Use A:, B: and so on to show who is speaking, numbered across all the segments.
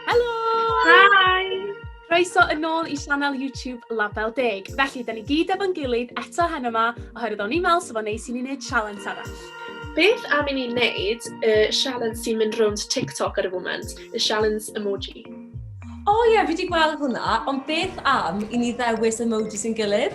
A: Helo! Hi! Croeso yn ôl i sianel YouTube Label Deg. Felly, da ni gyd efo'n gilydd eto hen yma, oherwydd o'n i'n meddwl sef o'n neis i ni wneud sialens arall. Beth am i ni
B: wneud y uh, sialens sy'n mynd rownd TikTok ar y foment, y sialens emoji? O oh, ie,
C: yeah, fi wedi gweld hwnna, ond beth am i ni ddewis emoji sy'n gilydd?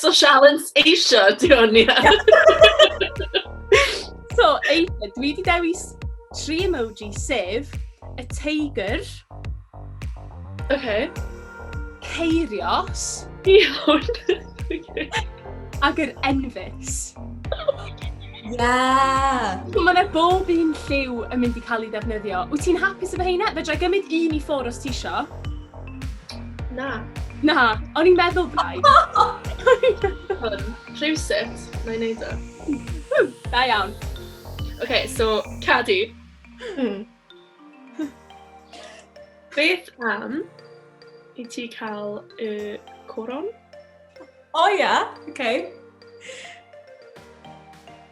B: So Sialens eisiau, di hwn, ia.
A: so, eisiau, dwi wedi dewis tri emoji, sef y teigr.
B: Okay. Ceirios.
A: Iawn. Ac yr enfus. Yeah!
C: So mae yna bob
A: un lliw yn mynd i cael ei ddefnyddio. Wyt ti'n hapus efo heina? Fe drai gymryd un i ffwr os ti isio.
B: Na. Na,
A: o'n i'n meddwl bai. Hwn,
B: rhywsut, na i wneud o. E. Da iawn.
A: OK,
B: so, Cadi. Hmm. Beth am i ti cael y coron? O
C: ia, OK.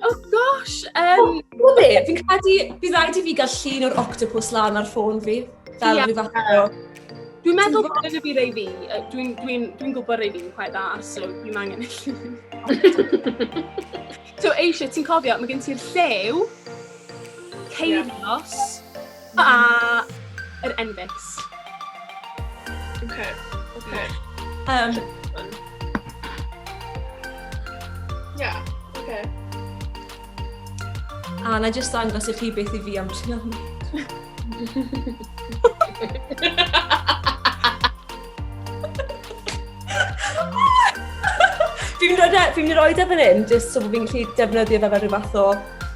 A: Oh gosh! Um, oh, be,
C: fi'n credu, bydd rhaid i fi gael llun o'r octopus lan ar ffôn fi. Fel yeah. rhyw fath o... Dwi'n meddwl bod
A: yn y byd ei fi, dwi'n dwi, dwi gwybod ei fi'n quite dda, so dwi'n angen y llun. so eisiau, ti'n cofio, mae gen ti'r llew, ceirios, yeah. A yr Envix. Okay, okay.
B: Um, yeah,
C: okay. A na jyst dangos i chi beth i fi am Xiaomi. Fi'n rhoi e, fi'n rhoi e fan hyn, jyst so bod fi'n gallu defnyddio fe fel rhyw fath o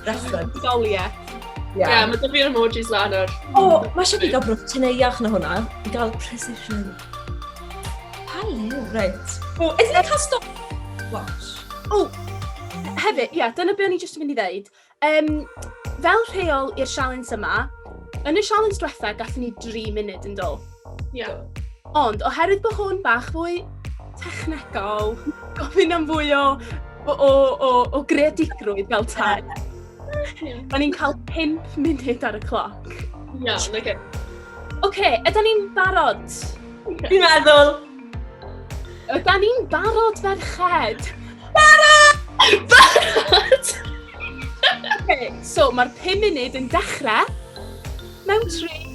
C: reference. Doliau.
A: Ie, yeah. yeah, mae dyfu
B: emojis lan ar... O, oh, mae eisiau fi gael
C: brwch teneuach na hwnna. I gael precision. Hello. Right. O, ydyn ni'n cael stop... Watch. O,
A: hefyd, ie, yeah, dyna beth o'n i jyst yn mynd i ddeud. Um, fel rheol i'r sialens yma, yn y sialens diwetha, gallwn ni 3 munud yn dod. Ie.
B: Ond, oherwydd
A: bod hwn bach fwy technegol, gofyn am fwy o, o, o, o, o greadigrwydd fel tai. Yeah. Da ni'n cael 5 munud ar y cloc. Iawn, yeah, oce.
B: Okay. Oce, okay,
A: yda ni'n barod? Fi'n
C: meddwl.
A: Yda ni'n barod ferched? Barod!
B: Barod! okay,
A: so mae'r 5 munud yn dechrau mewn 3,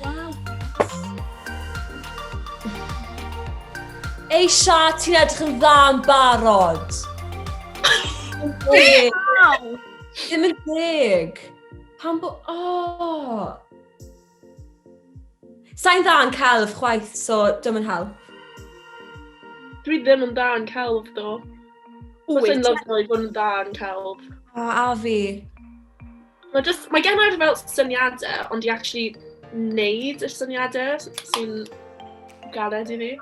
C: Waw, Eisha, ti'n edrych yn dda yn barod.
A: Waw! Ddim yn
C: deg. Pan bo... Oh. Sa'n dda yn celf chwaith, so dim yn help. Dwi
B: ddim yn da yn celf, do. Fysa'n lyfio i fod yn
C: da yn celf. A, a fi. Mae
B: just, mae gen i'r fel syniadau, ond i actually wneud y syniadau sy'n galed i fi.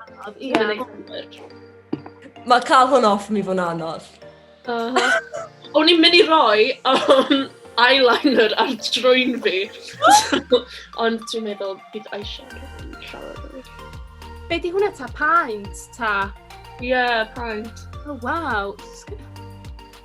C: Mae cael hwn off mi fod yn anodd. Uh -huh.
B: O'n i'n mynd i roi um, eyeliner ar drwy'n fi. ond dwi'n meddwl bydd eyeshadow yn siarad. Be di
A: hwnna ta? Paint ta? Ie, yeah,
B: paint. Oh, wow.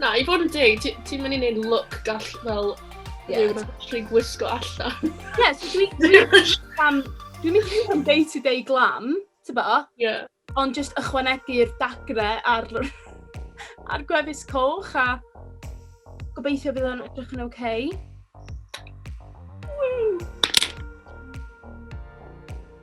A: Na, i fod yn
B: deg, ti'n mynd i wneud look gall fel yeah. rhywun actually gwisgo allan. Ie, so
A: dwi'n dwi'n mynd i am day to day glam, ti'n bo? Ie. Ond just ychwanegu'r dagre ar, ar gwefus coch a gobeithio bydd o'n edrych yn oce. Okay.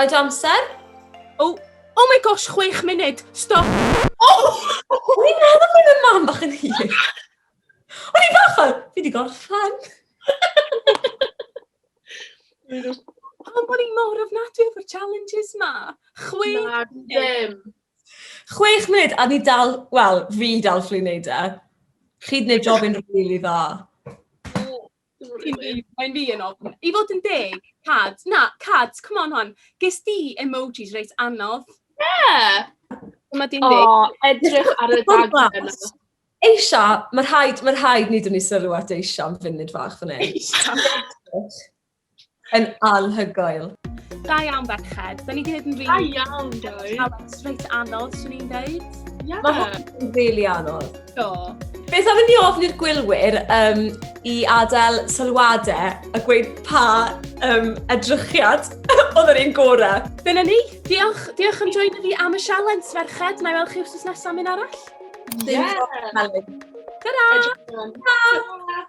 C: Mae dy amser? O, oh,
A: oh my gosh, chwech munud. Stop. Oh!
C: O'n i'n meddwl bod yn mam bach yn hir. O'n i'n bach fel, fi wedi gorffen.
A: Pam bod i'n mor ofnadwy o'r challenges ma? Chwech Na, ddim.
B: Chwech
C: munud, a ni dal, wel, fi dal fflu wneud e. Chi wedi gwneud job yn rili dda. Dim rili. Cyn
A: fi, mae'n fi yn ofn. I fod yn deg, Cad, na, Cad, come on hon. Ges di emojis reit anodd. Yeah!
B: Dyma di'n
A: deg. O, edrych ar y Ffwrdd
B: daglen yna. glas. Eisha,
C: mae rhaid, mae rhaid ni dynnu sylw at Eisha am funud fach fan hyn. Eisiau. Yn anhygoel. Da iawn,
A: Berched. Da ni wedi gwneud yn rili... Da iawn, guys.
B: Reit anodd, swn
A: i'n dweud. Yeah. Mae hwn yn
C: rili anodd. Do.
A: Beth am ni
C: ofn i'r gwylwyr um, i adael sylwadau a gweud pa um, edrychiad oedd yr un gorau? Dyna ni. Diolch,
A: diolch am join fi am y sialens, ferched. Na i weld chi wrth nesaf mynd arall. Yeah. Dyna. Dyna.